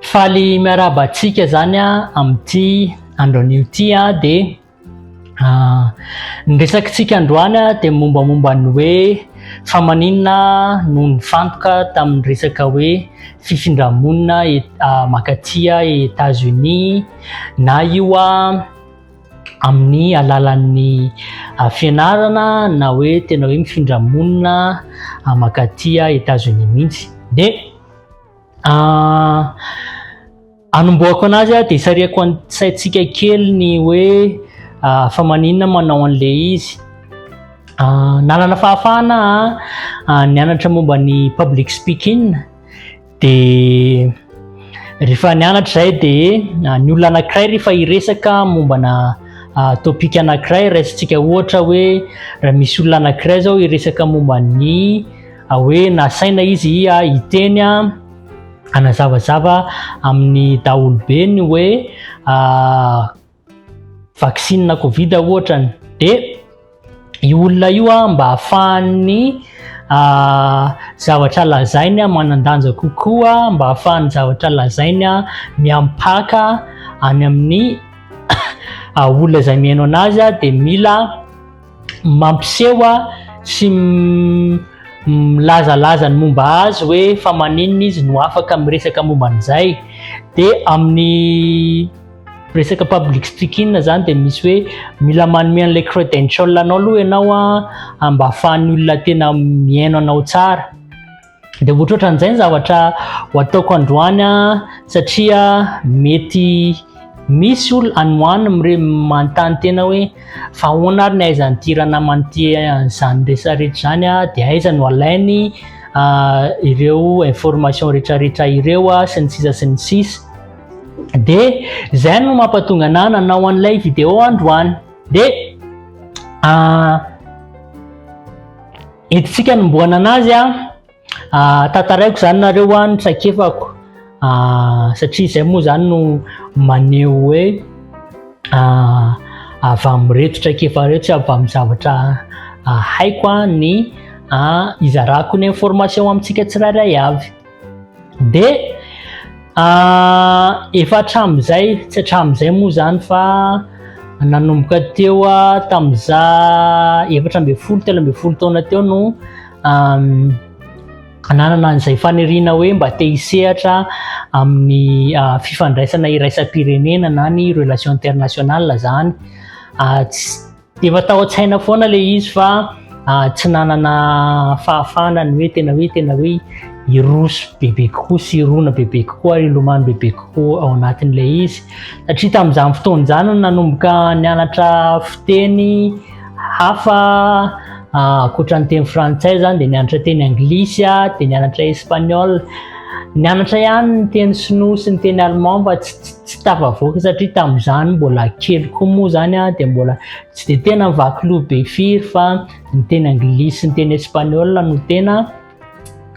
Faly miarahaba antsika izany amin'ity andro anio ity dia ny resakintsika androany dia mombamomba ny hoe fa maninona no nifantoka tamin'ny resaka hoe fifindra-monina mankaty Etazonia na io amin'ny alalan'ny fianarana na hoe tena hoe mifindra-monina mankaty Etazonia mihitsy dia Ah, anombohako anazy ah, de sariako an saintsika kely ny hoe ah, fa maninona manao an'le izy. Ah, nanana fahafahana ah, ah, nianatra momba ny public speaking, de rehefa nianatra zay de ah, ny olona anakiray rehefa hiresaka mombana ah, topic anakiray, raisintsika ohatra hoe raha misy olona anakiray zao hiresaka momba ny, hoe nasaina izy ia hiteny hanazavazava amin'ny daholobeny hoe vaksina covid ohatrany de i olona io a mba afahan'ny zavatra lazainy a manan-danja kokoa mba afahan'ny zavatra lazainy a miampaka any amin'ny olona izay mihaino anazy a de mila mampiseho sy milazalaza ny momba azy hoe fa maninona izy no afaka miresaka momba an'izay dia amin'ny resaka public speaking zany dia misy hoe mila manome an'ilay credential anao aloha ianao a mba ahafahan'ny olona tena mihaino anao tsara Dia ohatrohatra an'izay ny zavatra ho ataoko androany satria mety misy olona any ho any mire manontany tena hoe fa ahoana ary ny aizan'ity ranamana ity an'izany rehetra rehetra izany dia aiza no alainy ireo information rehetra rehetra ireo sy ny sisa sy ny sisa. Dia izay no mampatonga anah nanao an'ilay vidéo androany. Dia Hidintsika anombohana anazy a. Ah, tantaraiko izany nareo a, ny traikefako. Ah, satria izay moa izany no maneho hoe ah, avy amin'ireto traikefa ireto sy avy amin'ny zavatra ah, haiko a, ny ah, izarako ny information amintsika tsirairay avy. dia efa hatramin'izay tsy hatramin'izay moa izany fa nanomboka teo tamin'iza efatra ambin'ny folo telo ambin'ny folo taona teo no hananana an'izay faniriana hoe mba te hisehatra amin'ny fifandraisana iraisam-pirenena na ny relation internationale izany Efa tao an-tsaina foana ilay izy fa ah, tsy nanana fahafahana ny hoe tena hoe tena hoe hiroso bebe kokoa sy hirona bebe kokoa ary hilomano bebe kokoa ao anatin'ilay izy satria tamin'izany fotoana izany no nanomboka nianatra fiteny hafa ah, ankoatra ny teny frantsay izany dia nianatra teny anglisy ah, dia nianatra espaniola nianatra ihany ny teny sinoa sy ny teny allemand mba tsy tsy tafavoaka satria tamin'izany mbola kely koa moa izany a dia mbola tsy dia tena vaky loha be firy fa ny teny anglisy sy ny teny espaniola no tena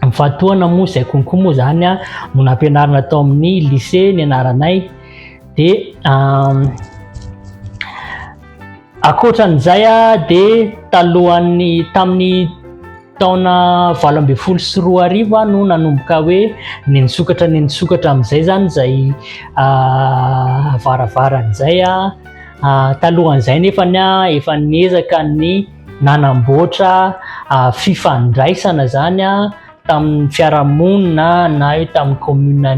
mifatohana moa izay konkoa moa izany a no nampianarina tao amin'ny lycée ny anaranay dia Ankoatran'izay dia talohan'ny tamin'ny taona valo ambin'ny folo sy roa arivo no nanomboka hoe ny nisokatra ny nisokatra amin'izay zany izay varavarana izay talohan'izay nefa ny efa niezaka ny nanamboatra fifandraisana zany tamin'ny fiarahamonina na eo tamin'ny commune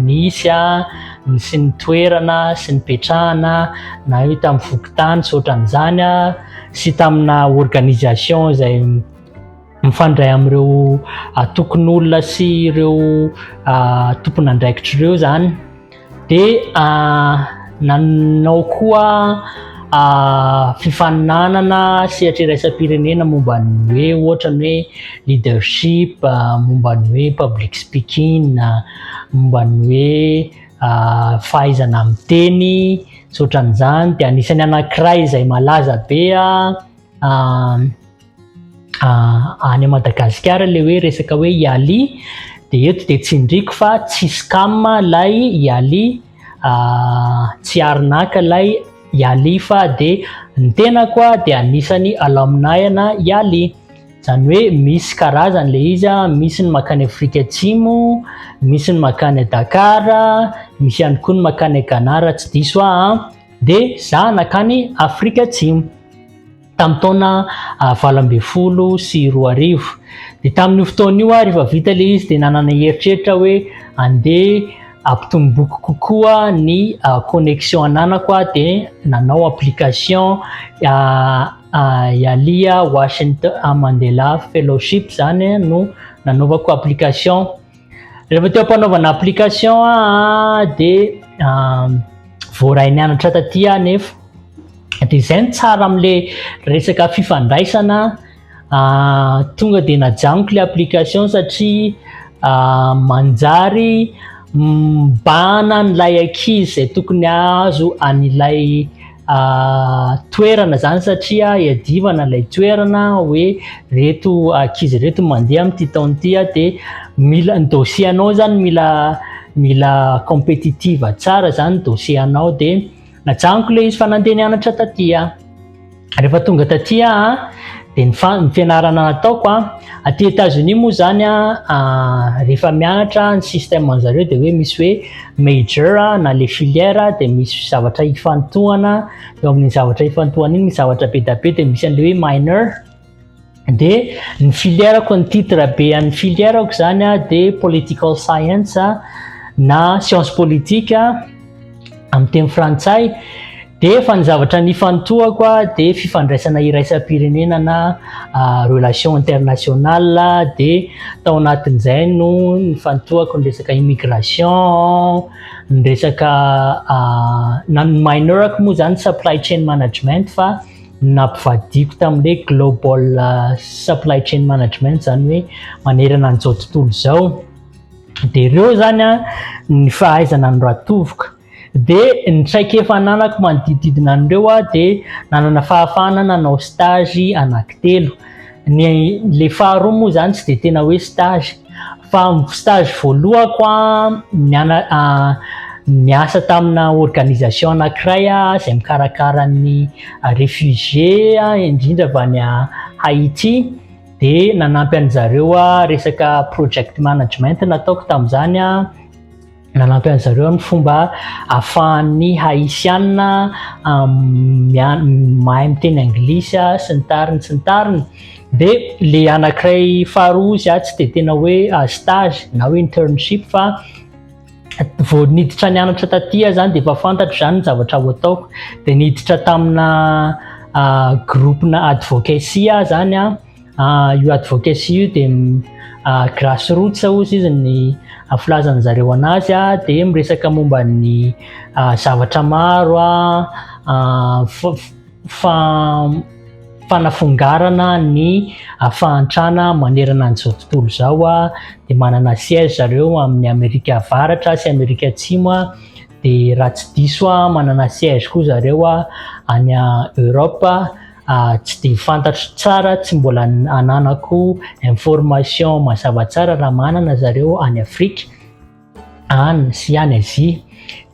nisy ny sy ny toerana sy ny petrahana na eo tamin'ny fokontany sy ohatran'izany sy tamina organisation izay mifandray amin'ireo atokon'olona sy ireo tompon'andraikitra ireo izany Dia nanao koa fifaninanana sehatra iraisam-pirenena momba ny hoe ohatra ny hoe leadership, momba ny hoe public speaking, momba ny hoe fahaizana miteny sy ohatran'izany. Dia anisan'ny anankiray izay malaza be. Ah, any Madagasikara ilay hoe resaka hoe Yali dia eto dia tsindriko fa tsy scam ilay Yali, ah, tsy arnaque ilay Yali fa dia ny tenako ah dia anisany alumni ana Yali. Izany hoe misy karazany ilay izy ah, misy ny makany Afrika Atsimo, misy ny makany Dakar, misy ihany koa ny makany Ghana raha tsy diso aho ah, dia za nakany Afrika Atsimo. tamin'ny taona valo ambin'ny folo sy roa arivo. Dia tamin'io fotoana io aho rehefa vita ilay izy dia nanana eritreritra hoe andeha ampitomboiko kokoa ny connexion ananako aho dia nanao application Yalia Washington Mandela Fellowship izany no nanaovako application. Rehefa teo am-panaovana application aho dia voaray nianatra taty aho nefa dia izay ny tsara amin'ilay resaka fifandraisana tonga dia najanoko ilay application satria manjary mibahana an'ilay ankizy izay tokony hahazo an'ilay toerana izany satria iadivana ilay toerana hoe reto ankizy reto mandeha amin'ity taona ity dia mila ny dossier anao izany mila mila compétitive tsara izany dossier anao dia najaniko ilay izy fa nandeha nianatra taty rehefa tonga taty aho dia ny fa ny fianarana nataoko a aty États-Unis moa izany a rehefa mianatra ny système anjareo dia hoe misy hoe major na le filière dia misy zavatra hifantohana eo amin'ny zavatra hifantohana iny misy zavatra be da be dia misy an'le hoe minor dia ny filière ko ny titre be an'ny filière ko zany a dia political science na science politique amin'ny teny frantsay Dia fa ny zavatra nifantohako dia fifandraisana iraisam-pirenena na relation internationale dia tao anatin'izay no nifantohako ny resaka immigration, ny resaka na ny minorako moa izany supply chain management fa nampivadiko tamin'ilay global supply chain management izany hoe manerana an'izao tontolo izao. Dia ireo izany ny fahaizana ny ratovoka. Dia ny traikefa ananako manodidididina an'ireo aho dia nanana fahafahana nanao stage anaky telo. Ny ilay faharoa moa izany tsy dia tena hoe stage fa stage voalohako niasa tamina organisation anankiray aho izay mikarakara ny réfugiés indrindra avy any Haïti dia nanampy an'izareo aho resaka project management nataoko tamin'izany aho. Nanampy an'i zareo ny fomba ahafahan'ny Haitiana mahay miteny anglisy sy ny tariny sy ny tariny dia le anankiray faharoa izy atsy dia tena hoe stage na hoe internship fa vao niditra nianatra taty aho zany dia efa fantatro zany ny zavatra ho ataoko dia niditra tamina groupe-na advocacy aho zany an Ah, io advocacy io dia ah, grassroots ozy izy ny ah, filazan'ny zareo anazy ah, dia miresaka momba ny ah, zavatra maro ah, ah, fa, fa, fanafongarana ny ah, fahantrana manerana an'izao tontolo izao ah, dia manana siège zareo amin'ny Amerika Avaratra sy Amerika Atsimo ah, dia raha tsy diso ah, manana siège koa zareo ah, any ah, Europe ah, Ah, tsy dia fantatro tsara, tsy mbola ananako information mazava tsara raha manana zareo any Afrika any sy any Azia.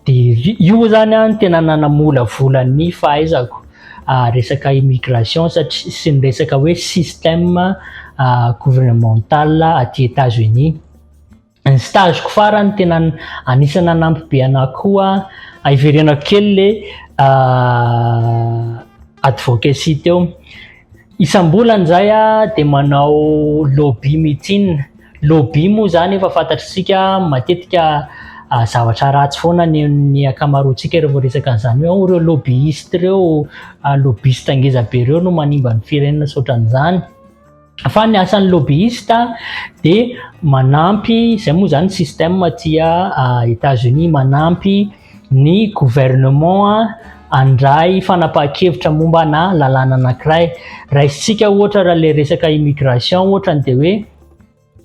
Dia io moa zany an tena nanamolavola ny fahaizako ah, resaka immigration satria sy ny resaka hoe système ah gouvernemental aty Etats-Unis. ny stage ko farany tena anisany nanampy be anah koa hiverenako kely le advocacy teo isambolany zay ah de manao lobby meeting lobby moa zany efa fantatritsika matetika zavatra ratsy foana ny ny akamaroantsika revô resaka an'zany hoe ao reo lobbyiste reo lobbiste ngezabe reo no manimba ny firenena tsy otran'zany Fa ny asan'ny lobbyiste dia manampy, izay moa izany système aty États-Unis, manampy ny gouvernement handray fanapahan-kevitra momba na lalàna anankiray. Raisintsika ohatra raha ilay resaka immigration ohatra dia hoe,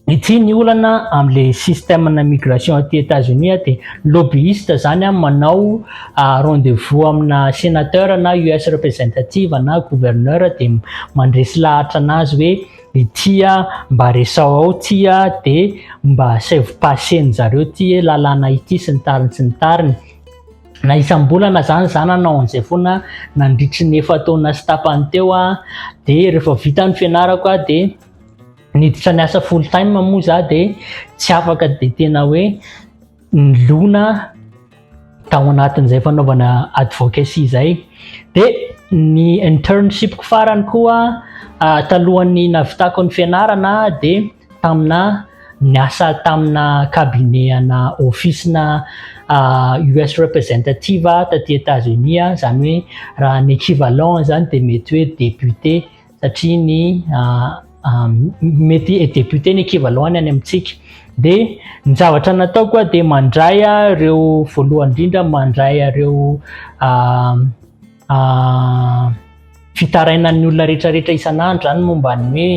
Ity ny olana amin'ilay système-na migration aty États-Unis dia lobbyiste izany an, manao rendez-vous amina sénateur na US representative na gouverneur dia mandresy lahatra anazy hoe ity an mba resao ao ity an dia mba asaivo passer-ny zareo ity lalàna ity sy ny tariny sy ny tariny. Na isam-bolana izany izany anao an'izay foana nandritry ny efa-taona sy tapany teo an dia rehefa vita ny fianarako an dia niditra ny asa full time moa za de tsy afaka de tena hoe nilona tao anatin'izay fanaovana advocacy izay de ny internship ko farany koa ah, talohan'ny navitako ny fianarana de tamina niasa tamina cabinet ana office na ah, US representative taty États-Unis ah, zany hoe raha ny équivalent zany de mety hoe député satria ny mety député ny équivalent-ny any amintsika dia ny zavatra natao koa dia mandray ireo voalohany indrindra mandray ireo fitarainan'ny olona rehetrarehetra isan'andro zany momba ny hoe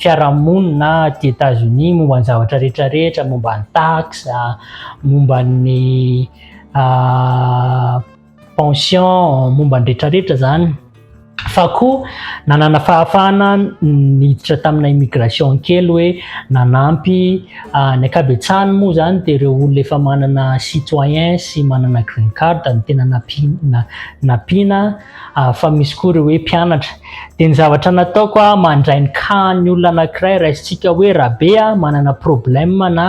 fiarahamonina aty Etazonia momba ny zavatra rehetrarehetra momba ny taxe momba ny pension momba ny retraretra zany fa koa nanana fahafahana niditra tamina immigration kely hoe nanampy ah, ny akabetsahany moa zany dia ireo olona efa manana citoyen sy manana green card ny tena napiana napiana ah, fa misy koa ireo hoe mpianatra dia ny zavatra nataoko ah, mandray ny cas ny olona anankiray raisintsika hoe rabe ah, manana problème na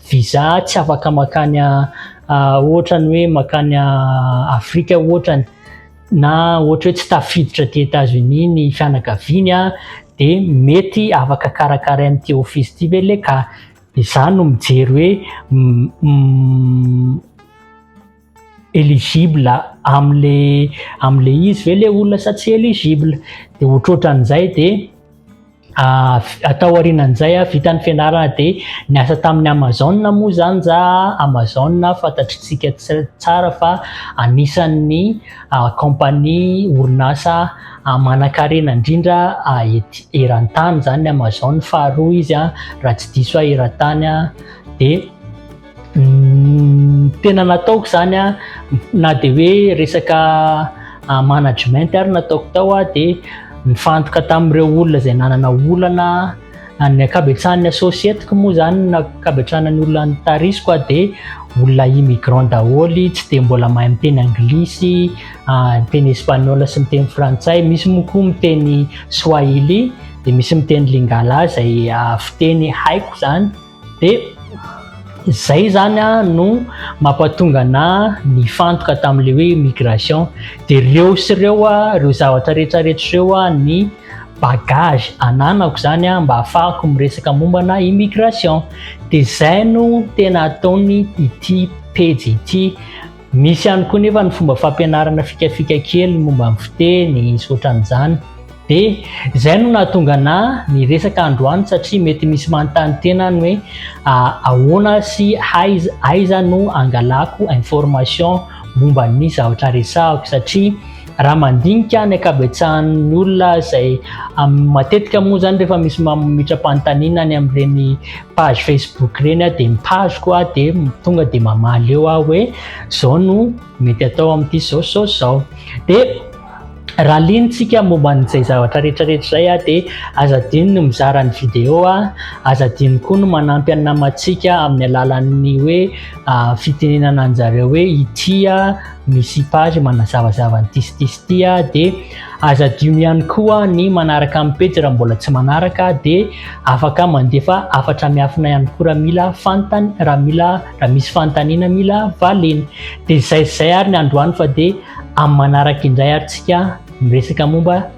visa tsy afaka makany ohatrany hoe makany Afrika ohatrany na ohatra hoe tsy tafiditra aty États-Unis ny fianakaviany dia mety afaka karakaraina ity office ity ve le ka izany no mijery hoe eligible amle amle izy ve le olona sa tsy eligible de otroatran'izay de ah, atao arinan'izay a ah, vitan'ny fianarana de ny asa tamin'ny amazon moa zany za amazon fantatritsika tsara fa anisan'ny ah, compagnie orinasa manankarena indrindra ety erantany zany amazon faharoa izy a raha tsy diso a erantany a de Ny tena nataoko izany a, na dia hoe resaka management ary no ataoko tao a, dia nifantoka tamin'ireo olona izay nanana olana, ny ankabetsahan'ny associeteko moa izany na ankabetsahan'ny olona nitarisiko a dia olona immigrants daholo, tsy dia mbola mahay miteny anglisy, miteny espaniola sy miteny frantsay, misy moa koa miteny swahili, dia misy miteny lingala izay fiteny haiko izany. dia izay zany no mampatonga ana nifantoka tamin'le hoe migration dia reo sy ireo ireo zavatra rehetra rehetra ireo ny bagage ananako zany mba afahako miresaka mombana immigration dia izay no tena ataony ity pejy ity Misy ihany koa nefa ny fomba fampianarana fikafika kely momba ny fiteny sy ohatran'izany. Dia izay no nahatonga anà niresaka androany satria mety misy manontany tena any hoe ahoana sy aiza aiza no angalako information momba ny zavatra resahako satria Raha mandinika ny ankabetsahan'ny olona izay matetika moa izany rehefa misy mamitram-panontaniana any amin'ireny page Facebook ireny aho dia mitazoko aho dia tonga dia mamaly eo aho hoe izao no mety atao amin'ity izao izao izao. Dia raha linintsika momba an'izay zavatra rehetrarehetra izay aho dia aza adino ny mizara ny video aho, aza adino koa ny manampy ny namantsika amin'ny alalan'ny hoe fitenenana anjareo hoe ity aho. ny sipage manazavazava ny tistis ty a dia aza adino ihany koa ny manaraka amin'ny pejy raha mbola tsy manaraka dia afaka mandefa afatra miafina ihany koa raha mila fantany raha mila raha misy fantaniana mila valeny dia zay zay ary ny androany fa dia amin'ny manaraka indray ary tsika miresaka momba